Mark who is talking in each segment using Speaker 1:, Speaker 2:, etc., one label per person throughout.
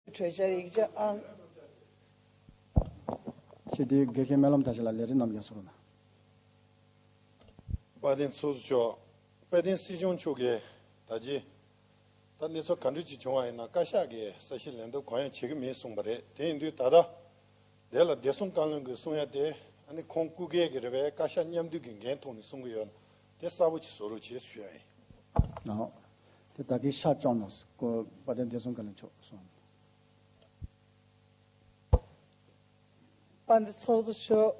Speaker 1: གྲོས་འཆར་ཡིག་ཆ་ཨང། ཞེས་
Speaker 2: དེའི་དགེ་རྒན་སྨོན་ལམ་དར་ཆེན་ལ་ལས་རིམ་རྣམས་ཀྱང་ཟུར་ན། དཔལ་
Speaker 3: ལྡན་ཚོགས་ཟུར་མཆོག་དཔལ་ལྡན་སྲིད་སྐྱོང་མཆོག་གིས་ད་རྗེས་ད་གནས་ཚུལ་ག་འདྲུས་ཅིག་བྱུང་བ་ཡིན་ན་བཀའ་ཤག་གིས་ས་ཞིང་ལེན་འདོད་གང་ཡང་བྱེད་ཀྱི་མེད་གསུངས་པ་རེད་དེ་ཡིན་དུས་ད་ལྟ་དེ་ལ་བདེ་སྲུང་བཀའ་བློན་གྱིས་གསུང་ཡ་དེ་ཨ་ནི་ཁོང་སྐུ་སྒེར་གྱི་རེད་པས་བཀའ་ཤག་མཉམ་འདུས་ཀྱི་འགན་ཐོག་ནས་གསུང་གི་ཡོད་དེ་གསར་བུ་ཆེ་བཟོ་རོགས་བྱས་སུ་ཤོད་ཨེ། ནའོ། དེ་ད་
Speaker 2: གིན་ཤ་བཅོག་ནོ། ཀོ། བ་དན་བདེ་སྲུང་ག་ལས་མཆོག་གསུང།
Speaker 1: པ་འདི་ཚོགས་རྫོགས་ཆོག།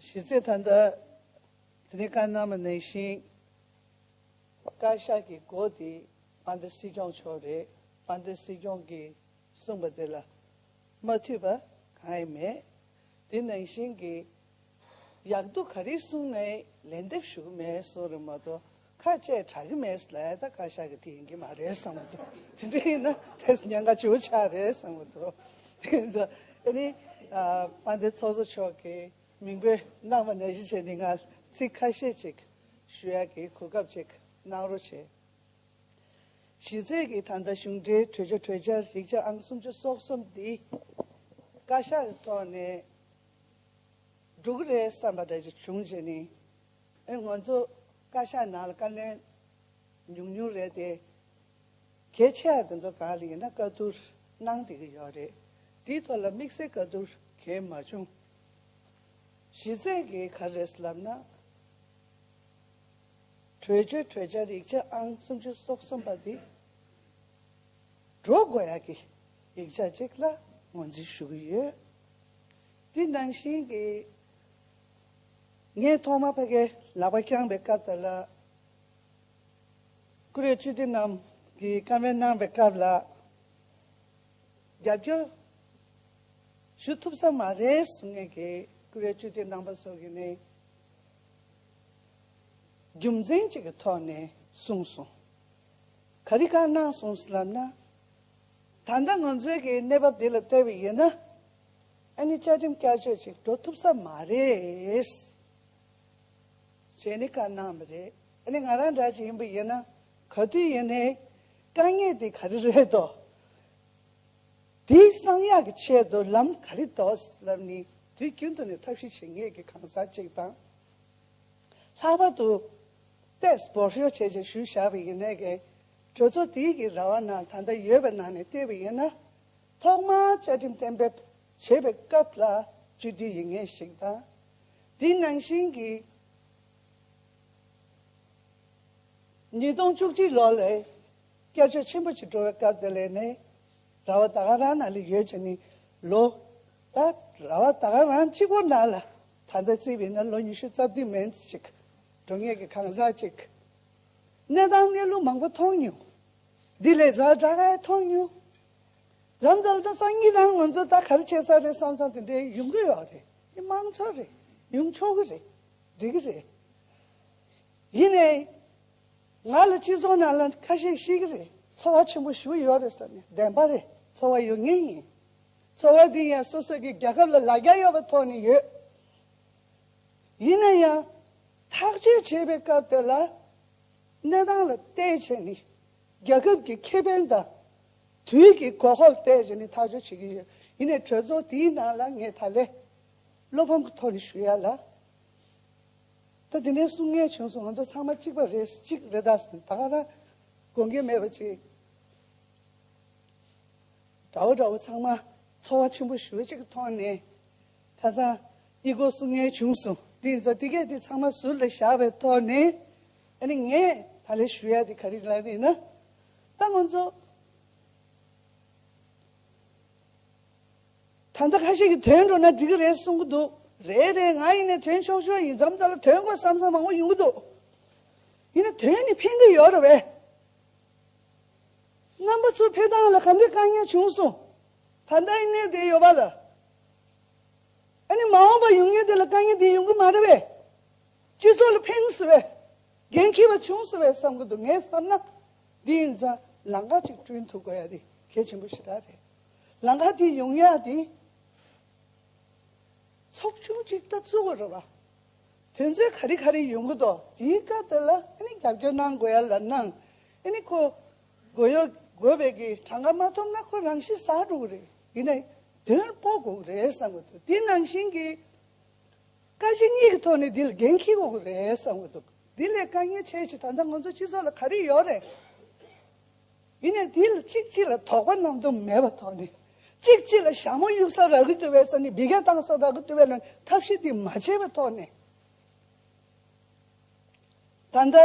Speaker 1: ཞི་རྩེ་ཐ་འདི། དེ་ནས་ཀར་ནར་མ་གནས་ཤིང། ཀར་ཤ་གི་སྒོ་དེ། པ་འདི་སྲིད་སྐྱོང་ཆོག་རེད། པ་འདི་སྲིད་སྐྱོང་གི་གསུངས་པ་དེ་ལ། མ་འཐུས་པ་གང་ཡང་མེད། དེ་ནང་བཞིན་གྱི། ཡག་འདུག་ག་རེ་གསུང་མེད་ལན་འདེབས་ཞུ་གི་མེད་གསུང་རེད་མ་གཏོགས་ཁ་བཅད་དྲག་གི་མེད་ལས་ད་བཀའ་ཤག་གི་དེ་ཡིན་གྱི་མ་རེད་བསམ་མ་ཐུབ་དེ་འདྲ་ཡིན་ན་དེས་ཉན་ཁ་བྱུང་ཆ་རེད་བསམ་མ་ཐུབ་དེ་ཚོ་ཨ་ནི་དཔལ་ལྡན་ཚོགས་གཙོ་མཆོག་གི་མིང་པོས་གནང་བ་ནས་གཞི་བྱས་ནས་ང་ཚིག་ཁ་ཤས་ཅིག་ཞུ་ཡ་གི་གོ་སྐབས་ཅིག་གནང་རོགས་བྱེད། གཞི་རྩའི་གི་ད་ལྟ་གཞུང་འབྲེལ་གྲོས་ཆོད་གྲོས་འཆར་ཡིག་ཆ་ཨང་སུམ་ཅུ་སོག་གསུམ་འདི་བཀའ་ཤག་གི་ཐོག་ནས་འགྲོ་གི་རེད་བསམ་པ་འདྲ་ཞིག་བྱུང་རྗེས་ནས། ང་ཚོ་བཀའ་ཤག་ནང་ལ་བཀའ་བློན་ཉུང་ཉུང་རེད་དེ། གལ་ཆེ་བ་དེ་ཚོ་གང་ལ་ཡིན་ན་བཀའ་བསྡུར་གནང་བསྡད་ཀྱི་ཡོད་རེད། དེའི་ཐོག་ལ་དམིགས་བསལ་བཀའ་བསྡུར་གལ་མ་བྱུང། གཞི་རྩའི་གལ་ག་རེད་ལབ་ན། གྲོས་ཆོད་གྲོས་འཆར་ཡིག་ཆ་ཨང་སུམ་ཅུ་སོ་གསུམ་པ་དེ། འགྲོ་དགོས་ཡག་གི་ཡིག་ཆ་ཅིག་ལ་ངོས་འཛིན་ཞུ་གི་ཡོད། དེ་ནང་བཞིན་གྱི། ངས་ཐོག་མར་ཕ་གའི་ལག་པ་བརྐྱངས་པའི་སྐབས་དང་ལ། ཀུ་རེ་བཅུ་དེ་རྣམས་ཀྱིས་སྐམ་པའི་གནང་བའི་སྐབས་ལ། རྒྱབ་སྐྱོར། ཞུ་ཐུབ་ས་མ་རེད་གསུང་ངེས་ཀྱི་ཀུ་རེ་བཅུ་དེ་གནང་པ་སོགས་ཀྱི་ནི། རྒྱུ་མཚན་གཅིག་གི་ཐོག་ནས་གསུངས་སོང། ག་རེ་གང་གནང་སོང་ལབ་ན། ད་ལྟ་ང་ཚོའི་གི་གནས་བབ་འདི་ལ་བལྟ་བའི་ཡིན་ན་ཨ་ནི་བཅའ་ཁྲིམས་བསྐྱར་བཅོས་ཅིག་འགྲོ་ཐུབ་ས་མ་རེད། ཞེས་ནི་བཀའ་གནང་བ་རེད། ཨ་ནི་ང་རང་འདྲ་ཅིག་ཡིན་པ་ཡིན་ན་ག་དུས་ཡིན་ནའི་དཀའ་ངལ་འདི་ག་རེ་རེད་དོ། དེའི་གསང་ཡག་གི་ཆེད་དུ་ལམ་ག་རེ་དོ་ལབ་ནི་དུས་རྒྱུན་དུ་ནས་ཐབས་ཤེས་བྱེད་ངེས་ཀི་གང་ཟག་ཅིག་དང། ལྷག་པར་དུ། པེས་བོར་ཤོར་བྱས་བྱས་ཞུས་བཞག་པའི་ཡིན་ནའི་གི་གྲོས་ཚོགས་དེའི་གི་ར་བ་ན་ད་ལྟ་ཡོད་པའི་ནང་ནས་ལྟས་པ་ཡིན་ན། ཐོག་མར་བཅའ་ཁྲིམས་གཏན་འབེབས་བྱེད་པའི་སྐབས་ལ་བཅོས་སྒྲིག་ཡིན་ངེས་ཤིག་དང། དེ་ནང་བཞིན་གྱི། ཉིས་སྟོང་བཅུ་གཅིག་ལོ་ལས་བསྐྱར་བཅོས་ཆེན་པོ་ཞིག་འགྲོ་བའི་སྐབས་དེ་ལས་ནས་ར་བ་ད་ག་རང་ན་ལས་ཡོད་ཅེས་ནི་ལོ། ད་ར་བ་ད་ག་རང་གཅིག་པོ་ན་ལ་ད་ལྟ་བརྩིས་པ་ཡིན་ན་ལོ་ཉི་ཤུ་རྩ་བདུན་མན་ཅིག་འགྲོ་ངེས་ཀྱི་གང་ཟག་ཅིག་གནས་དང་གནས་ལུགས་མང་པོ་མཐོང་མྱོང། འདི་ལས་གཟའ་བྲག་ཧའེ་མཐོང་མྱོང། རྫ་མཛོད་རྡ་ས་གཉིས་རང་ངོ་ཚོས་ད་ག་རེ་བྱེད་ས་རེད་བསམ་བསམ་དེ་འདྲས་ཡོང་གི་ཡོད་རེད་འདི་དམངས་འཚོ་རེད་ཡོང་ཆོག་གི་རེད་འགྲིག་གི་རེད། ཡིན་ནའི་ང་ལ་སྤྱི་ཚོགས་ནང་ལ་ཁ་ཤས་ཤེས་གི་རེད་འཚོ་བ་ཆེན་པོ་ཞུ་ཡོད་རེད་བསམ་ནས་བདེན་པ་རེད་འཚོ་བ་ཡོད་ངེས་ཡིན། འཚོ་བ་འདི་ཡང་སོ་སོ་གི་རྒྱལ་ཁབ་ལ་ལ་རྒྱ་ཡོད་པ་ཐོག་ནས་ཡོད། ཡིན་ན་ཡང་ཐག་གཅོད་བྱེད་པའི་སྐབས་དེ་ལ་གནས་སྟངས་ལ་བལྟས་ཚེ་ནི་རྒྱལ་ཁབ་ཀྱི་ཁེ་ཕན་དང་དུས་ཀྱི་གོ་སྐབས་བལྟས་ཚེ་ནི་ཐག་གཅོད་བྱེད་ཀྱི་ཡོད། ཡིན་ནའི་གྲོས་ཚོགས་དེའི་ནང་ལ་ངས་ད་ལེ་བློ་ཕམ་གྱི་ཐོག་ནས་ཞུ་ཡ་ལ། ད་དེ་འདྲའི་གསུང་ངན་བྱུང་སོང་ང་ཚོ་ཚང་མ་གཅིག་པ་རེད་གཅིག་རེ་ད་ཟེར་ནས་ད་ག་རང་དགོས་འགལ་མེད་པ་ཅིག་འདྲ་བོ་འདྲ་བོ་ཚང་མ་ཚོར་བ་ཆེན་པོ་ཞུ་བ་ཅིག་གི་ཐོག་ནས། ཁ་སང་ཨི་གོ་སུ་ངའི་བྱུང་སོང་དེ་ཡིན་ཙང་དེ་གས་དེ་ཚང་མ་ཟུར་ལ་བཞག་པའི་ཐོག་ནས་ཨ་ནི་ངས་ད་ལས་ཞུ་ཡག་དེ་ག་རིག་ལགས་ཡིན་ན་ད་ང་ཚོ་ད་ལྟ་ཁ་ཤས་ཀྱི་དོན་འགྲོ་ན་འགྲིག་གི་རེད་གསུང་གི་འདུག་རེད་རེད་ང་ཡིན་ནའི་དོན་ཆོག་ཆོག་ཡིན་འཛམ་བཟའ་ལ་དོན་དགོས་བསམ་བསམ་མང་བོ་ཡོང་གི་འདུག་ཡིན་ན་དོན་ནི་ཕན་གི་ཡོད་རེད་བས། རྣམ་པ་ཚོ་ཕེ་ཐང་ལ་ག་འདོད་དཀའ་ངལ་བྱུང་སོང་ད་ལྟ་ཨི་ནས་བསྡད་ཡོད་པ་ལ་ཨ་ནི་མ་འོངས་པར་ཡུན་ངེས་དེ་ལ་དཀའ་ངལ་འདི་ཡོང་གི་མ་རེད་བས། སྤྱི་ཚོགས་ལ་ཕན་སྲིད་བས། འགན་འཁྱེར་བ་བྱུང་སྲིད་བས་བསམ་གྱི་འདུག་ངས་བསམ་ན། འདི་ཡིན་ཙང་ལམ་ཁ་ཅིག་བསྐྲུན་ཐུབ་དགོས་ཡ་དེ་གལ་ཆེན་པོ་ཞེ་དྲག་རེད། ལམ་ཁ་དེ་ཡོང་ཡ་དེ། ཚོགས་ཆུང་ཅིག་ལྟ་བཙུགས་དགོས་རེད་བ། དོན་ཚོད་ག་རེ་ག་རེ་ཡོང་གི་འདུག་དེའི་སྐབས་དེ་ལ་ཨ་ནི་རྒྱབ་སྐྱོར་གནང་དགོས་ཡ་ལ་གནང། ཨ་ནི་ཁོ། དགོས་ཡོད་དགོས་བས་ཀྱི་གྲངས་ཀ་མ་ཐོབ་ན་ཁོ་རང་ཤི་ཟ་འགྲོ་གི་རེད། ཡིན་ན་དོན་པོ་དགོས་རེད་བསམ་གྱི་འདུག་དེ་ནང་བཞིན་གྱི། བཀའ་སྤྱི་གཉིས་ཀྱི་ཐོག་ནས་འདི་ལ་འགན་འཁྱེར་དགོས་རེད་བསམ་གྱི་འདུག་དེ་ལས་བཀའ་ཉན་བྱས་ཕྱིན་ད་ལྟ་ང་ཚོ་སྤྱི་ཚོགས་ལ་ག་རེ་ཡོད་རེད། ཡིན་ན་དེ་ལ་གཅིག་གཅིག་ལ་དོགས་པ་རྣམས་དུ་མེད་པ་ཐོག་ནས་གཅིག་གཅིག་ལ་ཞྭ་མོ་གཡུག་ས་རག་གི་འདུག་བས་ས་ནས་སྦི་ག་བཏང་ས་རག་གི་འདུག་བས་ལ་ཐབས་ཤེས་དེ་མ་བྱས་པའི་ཐོག་ནས། ད་ལྟ་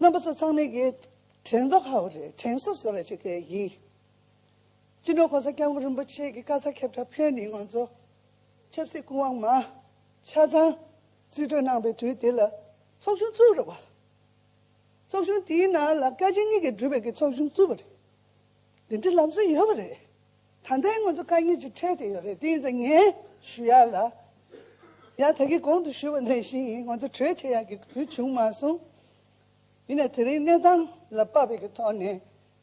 Speaker 1: རྣམ་པ་ཚོ་ཚང་མའི་གིས་དྲན་རྡོ་ཧ་བོ་རེད་དྲན་གསོ་བཟོ་ར་བྱེད་མཁན་ཡིན། སྤྱི་ནོར་གོང་ས་སྐྱབས་མགོན་རིན་པོ་ཆེ་གི་བཀའ་རྩ་ཁྱབ་བསྒྲགས་ཕེབས་ནས་ང་ཚོ་ཆབ་སྲིད་སྐུ་དབང་མ་ཆ་ཚང་རྩིས་སྤྲོད་གནང་པའི་དུས་དེ་ལ་ཚོགས་ཆུང་བཙུགས་རེད་བ། ཚོགས་ཆུང་དེའི་ནང་ལ་བཀའ་སྤྱི་གཉིས་ཀྱི་སྒྲུབ་པའི་གི་ཚོགས་ཆུང་བཙུགས་པ་རེད། དེ་འདྲའི་ལམ་སྲོལ་ཡོད་བ་རེད། ད་ལྟའི་ང་ཚོ་བཀའ་གཉིས་ཀྱི་ཁྲལ་དེ་ཡོད་རེད་དེ་ཡིན་ཙང་ངས་ཞུ་ཡ་ལ་ཡང་ད་གི་གོང་དུ་ཞུ་བ་ནས་བཞིན་ཡིན་ང་ཚོ་གྲོས་བྱེད་ཡ་གི་དུས་བྱུང་མ་སོང། ཡིན་ན་དེ་རིང་གནས་སྟངས་ལ་དཔག་པའི་གི་ཐོག་ནས་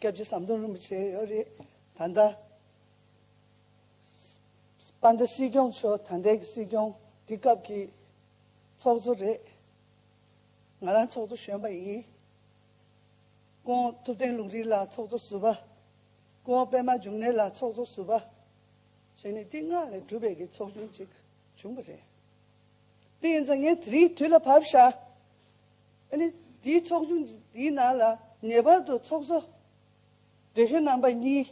Speaker 1: སྐྱབས་རྗེ་ཟམ་གདོང་རིན་པོ་ཆེ་ཡོད་རེད། ད་ལྟ། སྤ་ཟླ་སྲིད་སྐྱོང་མཆོག་ད་ལྟའི་གི་སྲིད་སྐྱོང་དེ་སྐབས་ཀྱི། ཚོགས་གཙོ་རེད། ང་རང་ཚོགས་གཙོ་གཞོན་པ་ཡིན། ཀོང་ཐུབ་བསྟན་ལུང་རིགས་ལགས་ཚོགས་གཙོ་ཟུར་པ། ཀོང་པད་མ་འབྱུང་གནས་ལགས་ཚོགས་གཙོ་ཟུར་པ། བྱས་ནས་ཏིང་ངག་ལས་གྲུབ་པའི་གི་ཚོགས་ཆུང་གཅིག་བྱུང་བ་རེད། དེ་ཡིན་ཙང་ངས་དེ་རིང་དུས་ལ་བབས་ཤག། ཨ་ནི་དེའི་ཚོགས་ཆུང་དེའི་ནང་ལ་ངེས་པར་དུ་ཚོགས་གཙོ། འབྲེལ་ཤོད་རྣམ་པ་གཉིས།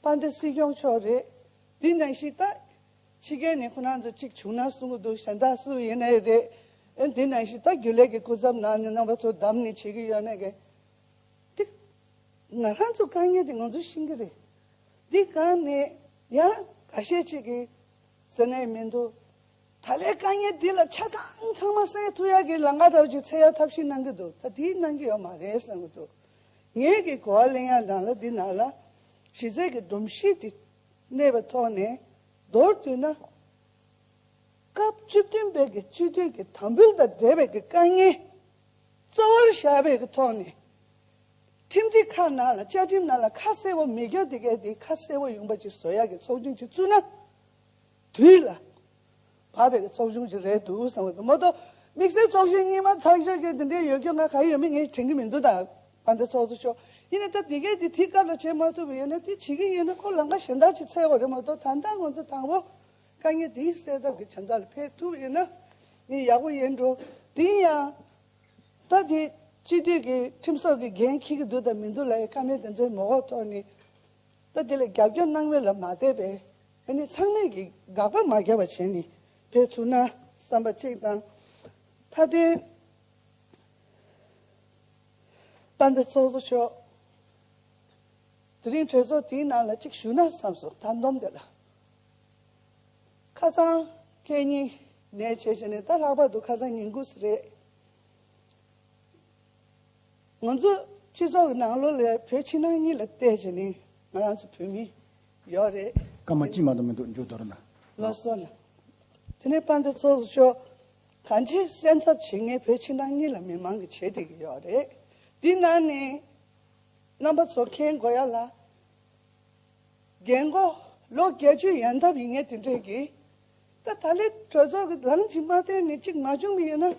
Speaker 1: དཔའ་མཐའི་སྲིད་སྐྱོང་མཆོག་རེད། དེའི་ནང་གཞི་བདག། ཕྱི་རྒྱལ་ནས་ཁོ་རང་ཚོ་གཅིག་བྱུང་ན་གསུང་གི་འདུག་གཞན་དག་སུ་ཡིན་ཨེ་རེད། ཨ་ནི་དེའི་ནང་གཞི་བདག་རྒྱུན་ལས་ཀྱི་སྐུ་ཚབ་ནང་ནས་རྣམ་པ་ཚོ་བདམས་ནས་བྱེད་ཀྱི་ཡོད་ན་དགའ། དེ། ང་རང་ཚོ་དཀའ་ངལ་དེ་ང་ཚོ་ཤིང་གི་རེད། དེ་གང་ནས་ཡང་ག་བཤད་བྱེད་ཀྱི། ཟེར་ན་ཡི་མི་འདུག། ད་ལས་དཀའ་ངལ་འདི་ལ་ཆ་ཚང་ཚང་མ་སེལ་ཐུབ་ཡག་གི་ལ་ང་རོགས་ཀྱི་ཚེ་ཡག་ཐབས་ཤིག་གནང་གི་འདུག་ད་དེའི་གནང་གི་ཡོད་མ་རེད་བསམ་གི་འདུག་ངས་གི་གོ་བ་གླེང་ཡག་འདང་ལ་འདི་ནང་ལ་གཞི་རྩའི་གི་སྒྲོམ་གཞི་འདི་གནས་པའི་ཐོག་ནས་མདོར་བསྡུས་ན། སྐབས་བཅུ་བདུན་པའི་གི་སྤྱི་འཐུས་གི་དམ་འབུལ་དང་འབྲེལ་བའི་གི་དཀའ་ངལ་གཙོ་བོར་བཞག་པའི་གི་ཐོག་ནས། ཁྲིམས་སྒྲིག་ཁག་ནང་ལ་བཅའ་ཁྲིམས་ནང་ལ་ཁ་གསལ་བོ་མི་འགྱོ་དེ་གས་དེ་ཁ་གསལ་བོ་ཡོང་པ་ཅིག་བཟོ་ཡག་གི་ཚོགས་ཆུང་ཅིག་བཙུགས་ན། དུས་ལ་བབ་པའི་ཚོགས་ཆུང་ཞིག་རེད་འདུག་བསམ་གྱི་མོད། དམིགས་བསལ་ཚོགས་གཞོན་གཉིས་མ་ཚང་ཤོས་ཀྱི་འདི་འདྲའི་ཡོད་རྒྱུ་ང་ག་ཡོད་མེད་ངས་དྲན་གྱི་མི་འདུག་ད་བར་འདི་ཚོགས་གཙོ་མཆོག་ཡིན་ནའི་སྟབས་དེ་གས་དེ་དུས་སྐབས་ལ་བྱེད་མ་ཐུབ་པ་ཡོད་ན་དེ་བྱེད་ཀྱི་ཡོད་ན་ཁོ་ལང་ཀ་གཞན་དག་ཅིག་འཚལ་བ་རེད་མ་གཏོགས་ད་ལྟ་ང་ཚོ་དང་པོ་དཀའ་ངལ་འདི་སེལ་ཐབས་ཀྱི་བྱ་འགག་ལ་ཕེབས་ཐུབ་ཡོད་ན་ནི་ཡག་པོ་ཡིན་འགྲོ། དེ་ཡིན་ཡང། ད་དེ་སྤྱི་འཐུས་ཀྱི་ཁྲིམས་སོགས་ཀྱི་འགན་འཁྱེར་གྱི་འདུག་དང་མི་འདུག་ལ་ཡི་ཀ་མེད་དེ་ཚོའི་མོ་འོག་ཐོག་ནས་ད་དེ་ལ་རྒྱབ་སྐྱོར་གནང་མེད་ལ་མ་བལྟས་པས་ཨ་ནི་ཚང་མས་ཀྱིས་དགག་པ་མ་བརྒྱབ་པ་བྱས་ནས་བེད་ཐུག་ན་བསམ་པ་གཅིག་དང། མཐའ་དོན་པ་འདི་ཚོགས་གཙོ་མཆོག་དེ་རིང་གྲོས་ཚོགས་དེའི་ནང་ལ་གཅིག་ཞུགས་ན་བསམས་སོང་ད་འདོམས་དེ་ལ་ཁ་ཚང་ཁྱེད་གཉིས་ནས་བྱས་བྱས་ནས་ད་ལྷག་པར་དུ་ཁ་ཚང་ཉིན་དགུ་ཟེར་རེད། ང་ཚོ་སྤྱི་ཚོགས་ཀྱི་ནང་ལོགས་ལས་བོད་ཕྱི་ནང་གཉིས་ལ་བལྟས་རྗེས་ནི་ང་རང་ཚོ་བོད་མི་ཡོད་རེད། སྐར་མ་གཅིག་མ་དང་མི་
Speaker 2: འདུག་མཇུག་དོར་ན། ལོགས་སུ་ལ།
Speaker 1: དེ་ནས་པ་འདི་ཚོགས་སུ་ཆོག། གང་ཆེ་སེམས་འཚབ་བྱེད་ངེས་བོད་ཕྱི་ནང་གཉིས་ལ་མི་མང་གི་བྱེད་བདེ་གི་ཡོད་རེད། འདི་ན་ནི། རྣམ་པ་ཚོ་མཁྱེན་དགོས་ཡ་ལ། རྒན་མགོ། ལོ་བརྒྱད་ཅུ་ཡན་འཐབ་ཡིན་ངེས་དེ་འདྲས་ཀྱི། ད་ད་ལའི་གྲོས་ཚོགས་ཀྱི་ལམ་གྱི་མ་མཐའི་ནས་གཅིག་མ་བྱུང་གི་ཡོད་ན།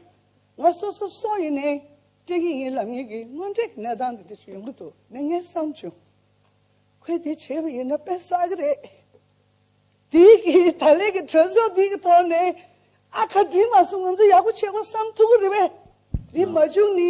Speaker 1: ང་སོ་སོ་སོ་ཡིན་ནའི་དྲན་གྱི་ཡིན་ལ་ངེད་ཀྱི་དངོས་འབྲེལ་གྱི་གནས་སྟངས་འདི་འདྲ་ཞིག་ཡོང་གི་འདུག་ནས་ངས་བསམ་བྱུང། ཁོས་དེ་བྱས་པ་ཡིན་ན་དཔེ་བསགས་ཀྱི་རེད། དེ་གིས་ད་ལའི་གི་གྲོས་ཚོགས་འདི་གི་ཐོག་ནས་ཨ་ཁ་བྲིས་མ་སོང་ང་ཚོ་ཡག་པོ་བྱས་པ་བསམ་ཐུབ་ཀྱི་རེད་པས། འདི་མ་བྱུང་ནི་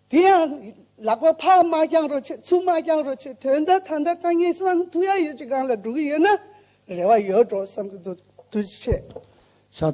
Speaker 1: དེ་ཡང་ལག་པ་ཕག་མ་རྐྱང་རོ་ཆེ་ཚུགས་མ་རྐྱང་རོ་ཆེ་དོན་དག་ཐ་མདའ་རྐང་གཉིས་སམ་མཐུག་ཡ་ཡོད་ཅིག་གང་ལ་འགྲོ་གི་ཡོད་ན་རེ་བ་ཡོད་འགྲོ་བསམ་གི་འདུག་དུས་ཆེ། ཕྱག་འཚལ།